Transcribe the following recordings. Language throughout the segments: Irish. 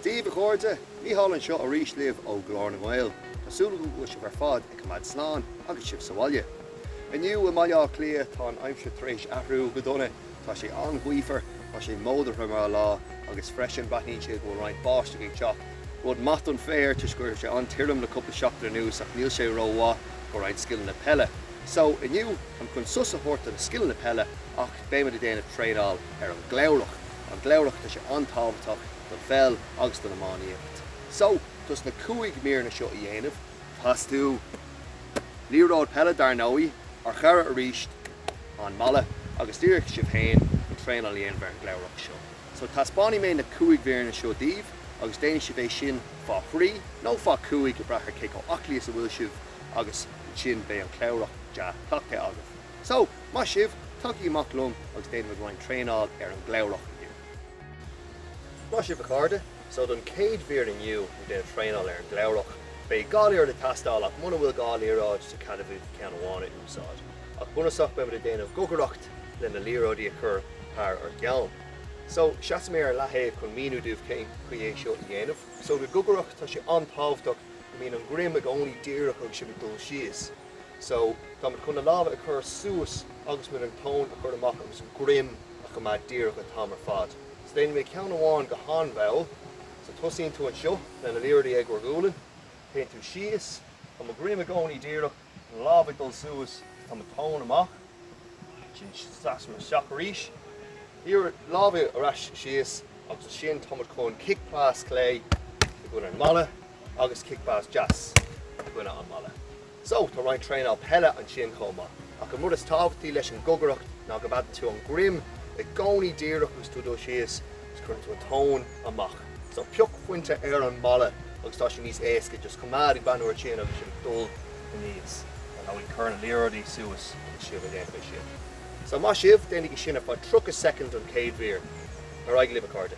Daoibh a chairde, Micheál anseo arís libh ó Ghlór na nGael. Tá súil agam go bhfuil sibh ar fad ag coimeád slán agus sibh sa bhaile. Inniu i mBaile Átha Cliath tá an aimsir tar éis athrú go dona Tá sé an-ghaofar, tá sé módartha mar lá agus freisin breathnaíonn sé go bhfuil roinnt báisteach ag teacht. Rud maith don féar toisc go raibh sé an-tirim le cúpla seachtain anuas ach níl sé ró-mhaith do roinnt scileanna peile. So, inniu, táim chun sos a thabhairt do na scileanna peile ach beimid ag déanamh traenáil ar an gcliabhrach. An cliabhrach, tá sé an-tábhachtach don pheil agus don iománaíocht. So, dos na cúig míreanna seo a dhéanamh. Teastóidh liathróid peile, dar ndóigh. Ár chara arís. an mballa agus díreach sibh féin an traenáil a dhéanamh ar an gcliabhrach seo. So taispeánfaidh mé na cúig mhíreanna seo daoibh agus déanfaidh sibh é sin fá thrí nó fá chúig, ag brath ar cé chomh aclaí is a bhfuil sibh, agus ansin beidh an cliabhrach dea-chleachtaithe agaibh. So, maith sibh, tagaigí amach liom agus déanfaimid roinnt traenáil ar an gcliabhrach inniu. Maith sibh, a chairde. So don chéad mhír inniu ag déanamh traenáil ar an gcliabhrach, beidh dhá liathróid ag teastáil ach muna bhfuil dhá liathróid, tá cead agaibh ceann amháin a úsáid. Ach bunúsach beimid ag déanamh gogaireacht le na liathróidí a chur thar ár gceann. So, seasfaidh mé ar leathaobh chun míniú daoibh cén chaoi é seo a dhéanamh. So, don gogaireacht, tá sé an-tábhachtach go mbíonn an droim i gcónaí díreach agus sibh ag dul síos. So, táimid chun na lámha a chur suas agus muid an tóin a chur amach agus an droim a choimeád díreach an t-am ar fad. So, déanfaidh mé ceann amháin go han-mhall. So, tosaíonn tú anseo le na liathróidí ag bhur ghualainn. Téann tú síos. Tá mo dhroim i gcónaí díreach. Na lámha ag dul suas, tá mo tóin amach. Ansin seasaim isteach arís. Lámha ar ais síos agus ansin tá muid chun cic pas clé i gcoinne an mballa agus cic pas deas i gcoinne an mballa. So, tá roinnt traenáil peile ansin chomh maith. Ach an rud is tábhachtaí leis an gogaireacht ná go gcoimeádann tú an droim i gcónaí díreach agus tú ag dul síos. is cuireann tú an tóin amach. So pioc pointe ar an mballa agus tá sé níos éasca just coimeád ag breathnú ar sin agus sibh ag dul aníos an abhainn. Cuir na liathróidí suas agus sibh ag déanamh é sin. So maith sibh, déanaigí sin ar feadh 30 soicind an chéad mhír. Ar aghaidh libh a chairde.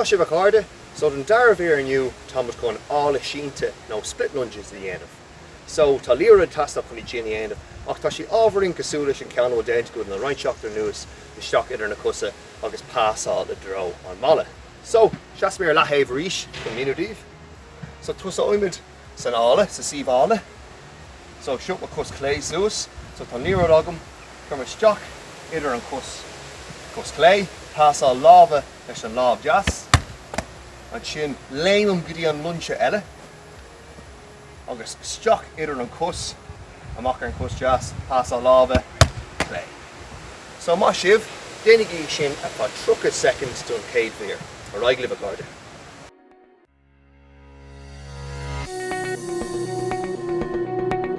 Maith sibh a chairde! So don dara mhír inniu táimid chun áladh sínte nó split lunges a dhéanamh. So tá liathróid ag teastáil chun iad sin a dhéanamh ach tá sé ábhairín cosúil leis an ceann a bhfuil déanta againn le roinnt seachtainí anuas isteach idir na cosa agus pasáil i dtreo an mballa. So, seasfaidh mé ar leathaobh arís chun míniú daoibh. So, tosóimid san fhogha, sa suíomh fogha. So, seo mo chos chlé suas. So, tá liathróid agam, cuirim isteach idir an chos, cos chlé, pasáil láimhe leis an lámh deas. Ansin, léimim go dtí an líne seo eile. agus isteach idir an cos amach ar an cos deas, pasáil láimhe clé. So maith sibh, déanaigí sin ar feadh 30 soicind don chéad mhír. Ar aghaidh libh a chairde.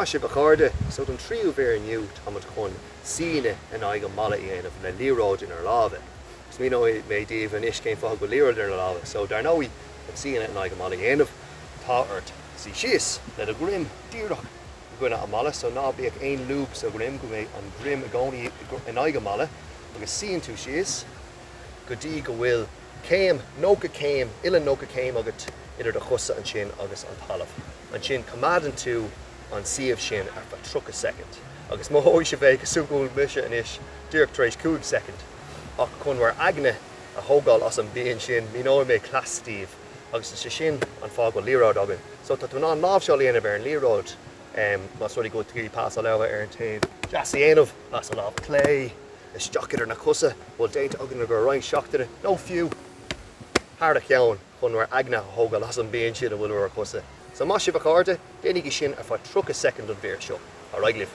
Maith sibh, a chairde! So, don tríú mhír inniu, táimid chun suí in aghaidh an mballa a dhéanamh le liathróid inár lámha. Agus míneoidh mé daoibh anois cén fáth go bhfuil liathróid inár lámha. So, dar ndóigh, chun suí in aghaidh an mballa a dhéanamh, tá ort suí síos, le do dhroim díreach, i gcoinne an mballa, so ná bíodh aon lúb sa dhroim go mbeidh an droim i gcónaí in aghaidh an mballa agus suíonn tú síos go dtí go bhfuil céim, 90 céim, uillinn 90 céim agat idir do chosa ansin agus an talamh. Ansin coimeádann tú an suíomh sin ar feadh 30 soicind agus mothóidh sibh é cosúil le go bhfuil mise anois díreach tar éis 5 soicind ach chun bhur aigne a thógáil as an bpian sin míneoidh mé cleas daoibh. Agus is é sin an fáth go bhfuil liathróid againn. So tá tú in ann láimhseáil a dhéanamh ar an liathróid más rud é go bhfuil tú ag iarraidh pasáil láimhe ar an taobh deas a dhéanamh, pasáil láimhe clé, isteach idir na cosa, bhfuil déanta againn i gcóir roinnt seachtaine, nó fiú thar an gceann, chun bhur aigne a thógáil as an bpian sin a bhfuil ar bhur gcosa. So maith sibh a chairde, déanaigí sin ar feadh 30 soicind an mhír seo. Ar aghaidh libh!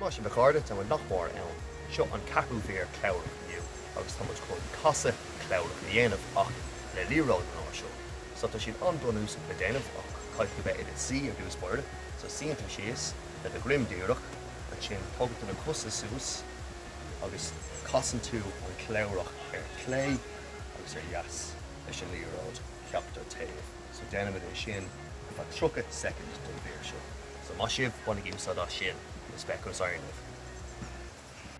Maith sibh, a chairde, tá muid nach mór ann. Seo an ceathrú mhír chlabhrach inniu agus tá muid chun casadh clabhrach a dhéanamh ach le liathróid an uair seo. So tá siad an-bhunúsach le déanamh ach caithfidh tú bheith i do suí ar dtús báire. So suíonn tú síos. le do dhroim díreach, ansin tógann tú na cosa suas agus casann tú an clabhrach ar clé agus ar dheas leis an liathróid ceachtar taobh. So déanaimid é sin ar feadh 30 soicind don mhír seo. So maith sibh, bainigí úsáid as sin, is feicfidh mé sibh ar aon nós.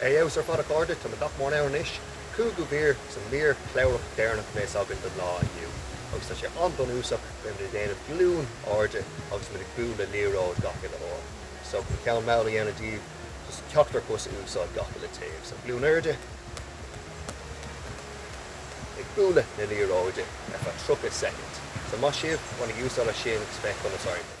Ar fheabhas ar fad a chairde, táimid nach mór ann anois. Cúigiú mír sa mhír chlabhrach deireanach anois againn don lá inniu agus tá sé an-bhunúsach, beidh muid ag déanamh glúine arda agus muid ag bualadh liathróid gach uile uair. So chun ceann mall a dhéanamh daoibh, Is ceachtar cos a úsáid gach aon taobh so glúine arda ag bualadh na liathróide ar feadh 30 soicind. So maith sibh, bainigí úsáid as sin agus féach conas a oibríonn.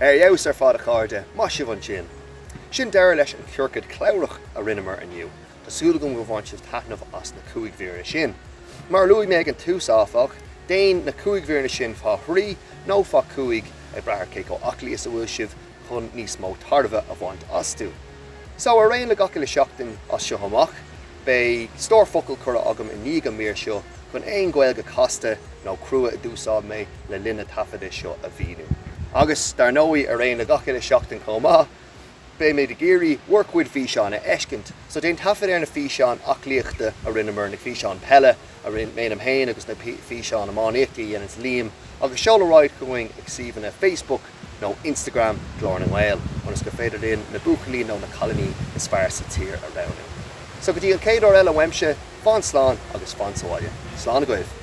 Ar fheabhas ar fad a chairde, maith sibh ansin! Sin deireadh leis an chiorcad chlabhrach a rinneamar inniu. Tá súil agam go bhain sibh taitneamh as na cúig mhíreanna sin. Mar a luaigh mé ag an tús áfach, déan na cúig mhíreanna sin faoi thrí nó faoi chúig ag brath ar cé chomh aclaí is a bhfuil sibh chun níos mó tairbhe a bhaint astu. So, ar aon le gach uile sheachtain as seo amach. Beidh stór focal curtha agam i ndiaidh an mhír seo chun aon Ghaeilge casta nó crua a d'úsáid mé le linn na taifeadta seo a mhíniú. Agus, dar ndóigh, ar aon le gach uile sheachtain chomh maith, beimid ag iarraidh bhur gcuid físeán a fheiscint. So déan taifead ar na físeáin aclaíochta a rinneamar, na físeáin peile a dhéanaim féin agus na físeáin iománaíochta a dhéanann Liam agus seol ar aghaidh chugainn ag suíomhanna Facebook, nó Instagram Glór na nGael ionas gur féidir linn na buachaillí nó na cailíní is fearr sa tír a roghnú. So go dtí an chéad uair eile uaimse, fan slán agus fan sa bhaile. Slán agaibh!